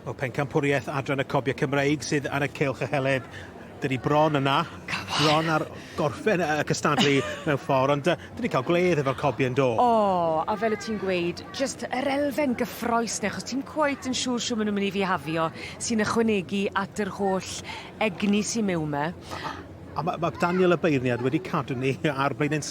O pencampwriaeth Adran y Cobiau Cymreig sydd ar y cylch y heledd. Dyn ni bron yna, bron ar gorffen y cystadlu mewn ffordd, ond uh, dyn ni cael gwledd efo'r cobiau yn do. O, a fel y ti'n gweud, just yr elfen gyffroes neu, achos ti'n cweit yn siŵr siw maen nhw'n mynd i fihafio, sy'n ychwanegu at yr holl egni sy'n mewn me. A, a mae ma Daniel y beirniad wedi cadw ni ar blaen yn,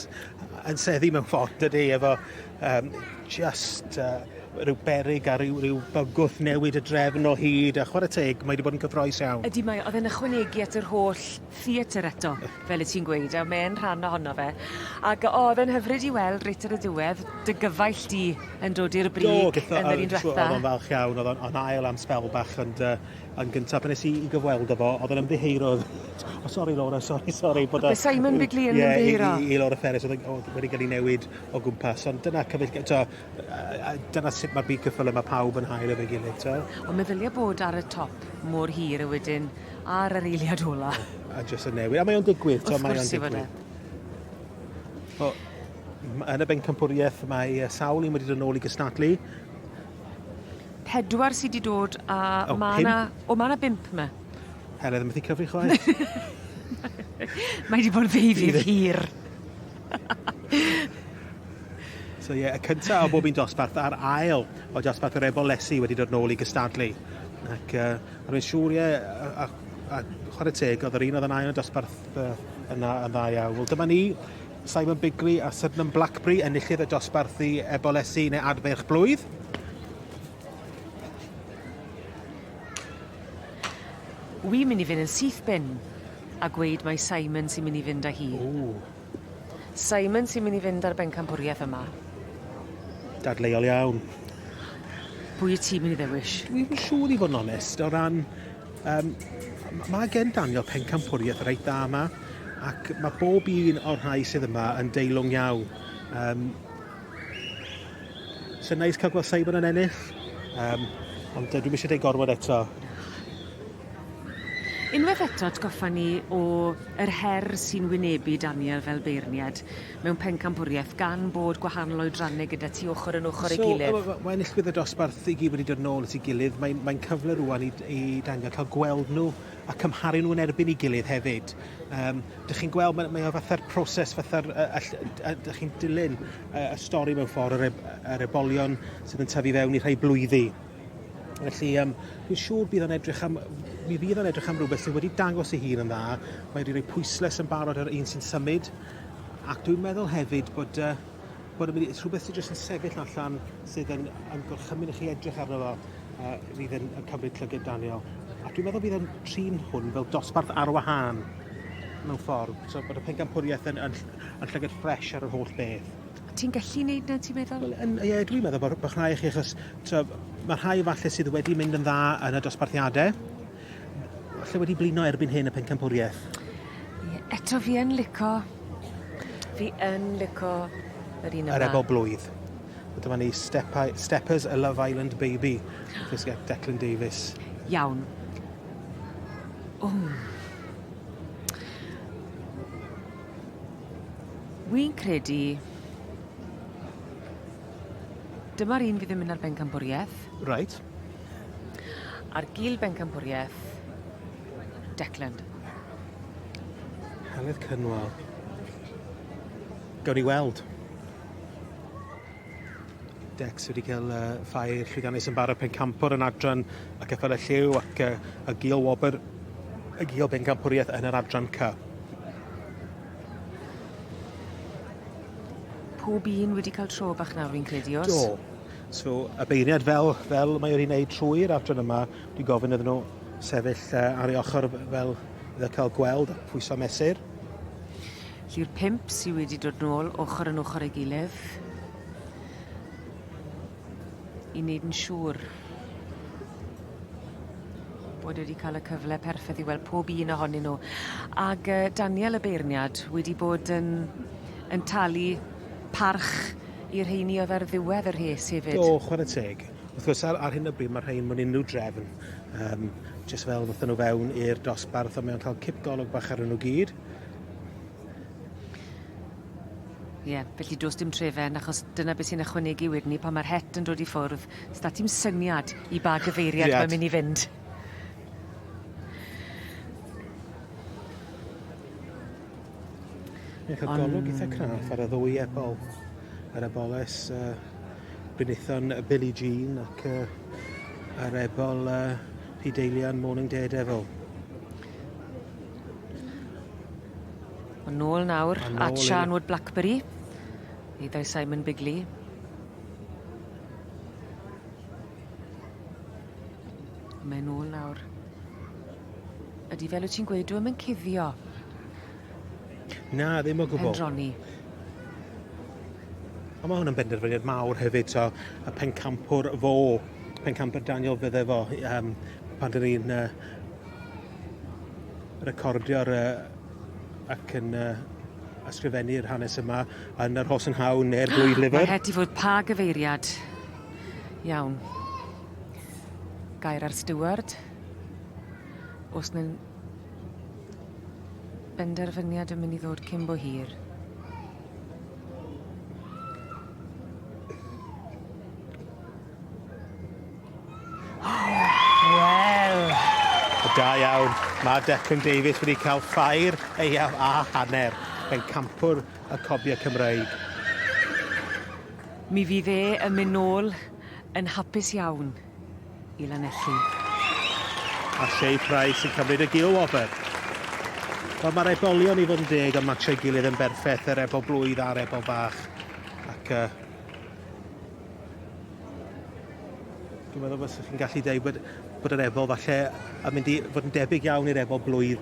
yn seddi mewn ffordd, dydy, efo Um, just uh, rhyw berig a rhyw, rhyw bygwth newid y drefn o hyd, a chwarae teg, mae wedi bod yn cyffroes iawn. Ydy mae, oedd e'n ychwanegu at yr holl theatr eto, fel y ti'n gweud, a mae'n rhan ohono fe. Ac oedd e'n hyfryd i weld reit ar y diwedd, dy gyfaill di yn dod i'r brig Do, gyda, yn yr un diwetha. Oedd o'n falch iawn, oedd o'n ail am spel bach, ond uh, yn gyntaf, pan nes i gyfweld efo, oedd o'n ymddiheiro. oh, sorry Laura, sorry, sorry. Bod Simon Bigley yn yeah, ymddiheiro. I, i, i Laura Ferris, oedd wedi cael ei newid o gwmpas ond dyna cyfeillgar- t'o' yy yy yy dyna sut ma'r byd ceffyle ma' pawb yn hael efo'i gilydd t'o'? Ond meddylia bod ar y top mor hir a wedyn ar yr eiliad ola. A jyst yn newid a mae o'n digwydd t'o' mae o'n digwydd. Wrth gwrs yw e. O m- yn y bencampwrieth mae yy sawl un wedi dod nôl i gystadlu. Pedwar sy 'di dod a O, ma' 'na... pump? O ma' 'na bump 'ma. Helen methu cyfri chwaith. Mae 'di bod yn ddeufis hir. So ie, y cyntaf o bob un dosbarth a'r ail o dosbarth yr efo lesu wedi dod nôl i gystadlu. Ac uh, a rwy'n siŵr ie, a, a, a chwarae teg, oedd yr un oedd yn ail o dosbarth uh, yna yn dda iawn. Wel dyma ni, Simon Bigley a Sydenham Blackberry enillydd y dosbarth i efo lesu neu adferch blwydd. Wi'n mynd i fynd yn syth bin. a gweud mai Simon sy'n mynd i fynd â hi. Ww. Simon sy'n mynd i fynd â'r bencampwriaeth yma. Dadleuol iawn. Pwy y ti'n mynd i ddewis? Dwi'n siŵr i fod yn onest, o ran... Um, mae gen Daniel pencampwriaeth reit dda yma, ac mae bob un o'r rhai sydd yma yn deilwng iawn. Um, Sy'n neis cael gweld Simon yn ennill. Um, ond uh, dwi'n eisiau ei gorfod eto. Unwaith eto atgoffa ni o yr her sy'n wynebu Daniel fel beirniad mewn pencampwriaeth gan bod gwahanol oedrannau gyda ti ochr yn ochr so, ei gilydd. So, mae enillwyr y dosbarth i gyd wedi dod yn ôl at ei gilydd. Mae'n mae, mae cyfle rwan i, i Daniel cael gweld nhw a cymharu nhw yn erbyn ei gilydd hefyd. Um, dych chi'n gweld, mae, mae o fatha'r proses, fatha'r, dych chi'n dilyn y stori mewn ffordd, yr, e, yr ebolion sydd yn tyfu fewn i rhai blwyddi. Felly, um, dwi'n siŵr bydd o'n edrych am, mi fydd o'n edrych am rhywbeth sydd wedi dangos ei hun yn dda. Mae wedi rhoi pwysles yn barod ar un sy'n symud. Ac dwi'n meddwl hefyd bod uh, bod yn mynd i, rhywbeth sydd jyst yn sefyll allan sydd yn, yn gorchymyn i chi edrych arno fo uh, fydd yn, yn cymryd llyged Daniel. A dwi'n meddwl bydd yn trin hwn fel dosbarth ar wahân mewn ffordd. So bod y pencampwriaeth yn, yn, yn llyged ffres ar yr holl beth. Ti'n gallu wneud na, ti'n meddwl? Wel, yn, ie, dwi'n meddwl bod, bod rhai chi, achos mae rhai falle sydd wedi mynd yn dda yn y dosbarthiadau, Falle wedi blino erbyn hyn y pencampwriaeth? Ie, eto fi yn lico... Fi yn lico yr un yma. Yr efo blwydd. Dyma ni Step Steppers a Love Island Baby. Fes get Declan Davies. Iawn. O. Wy'n credu... Dyma'r un fydd yn mynd ar bencampwriaeth. Right. Ar gil bencampwriaeth Declan. Heledd Cynwal. Gawn ni weld. Dex wedi cael uh, ffair llwyddiannus yn barod pencampwr yn adran y cyffel y lliw ac uh, y gil wobr y gil bencampwriaeth yn yr adran ca. Pob un wedi cael tro bach nawr fi'n credu os? Do. So, y beirniaid fel, fel mae wedi wneud trwy'r adran yma, dwi'n gofyn iddyn nhw sefyll uh, ar ei ochr fel iddo cael gweld a pwyso mesur. Lly'r pimp sydd wedi dod nôl ochr yn ochr ei gilydd i wneud yn siŵr bod wedi cael y cyfle perffaith i weld pob un ohonyn nhw. Ac uh, Daniel y beirniad wedi bod yn, yn talu parch Y rheiny oedd ar ddiwedd y rhes hefyd. Do, chwarae teg. Wrth gwrs, ar, ar hyn o bryd, mae rhain mewn unrhyw drefn. Um, just fel ddothon nhw fewn i'r dosbarth, ond mae'n cael cip golwg bach ar nhw gyd. Ie, yeah, felly dos dim trefen, achos dyna beth sy'n ychwanegu wedyn ni pan mae'r het yn dod i ffwrdd. Sda ti'n syniad i ba gyfeiriad yeah. mae'n mynd i fynd. Mae cael golwg eitha craff ar y ddwy ebol. Yr eboles uh, brinithon y Billie Jean ac uh, yr ebol uh, P-Deilian Morning Daredevil. Yn nôl nawr at Sian Wood Blackberry. Ni dau Simon Bigley. Mae'n nôl nawr. Ydi fel wyt ti'n gweud dyw e ddim yn cuddio. Na, ddim o gwbl. Pendroni. Ond mae hwnna'n benderfyniad mawr hefyd, so y pencampwr fo, pencampwr Daniel fydde fo, um, pan dyn ni'n uh, recordio'r uh, ac yn uh, ysgrifennu'r hanes yma yn yr Horse and Hound neu'r Blwydd Liver. Mae het i fod pa gyfeiriad. Iawn. Gair ar Stewart. Os ne'n benderfyniad yn myn' i ddod cyn bo hir. Wel! Da iawn. Mae Declan Davies wedi cael ffair eiaf a hanner. Mae'n campwr y cobiau Cymraeg. Mi fydd e yn mynd nôl yn hapus iawn. i Lanelli. A Shay Price yn cymryd y gil wobr. Wel, mae'r ebolion i fod yn deg yn matchio'i gilydd yn berffaith, yr ebol blwydd a'r ebol bach. Ac uh, dwi'n meddwl bod chi'n gallu dweud bod, bod yr ebol falle yn mynd i fod yn debyg iawn i'r ebol blwydd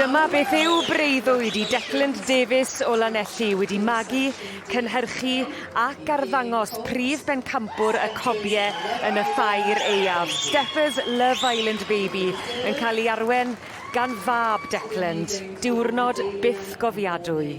Dyma beth yw breuddwyd i Declan Davies o Lanelli wedi magu, cynhyrchu ac arddangos prif bencampwr y cobie yn y ffair aeaf, Stepha's Love Island Baby, yn cael ei arwen gan fab Declan, diwrnod byth gofiadwy.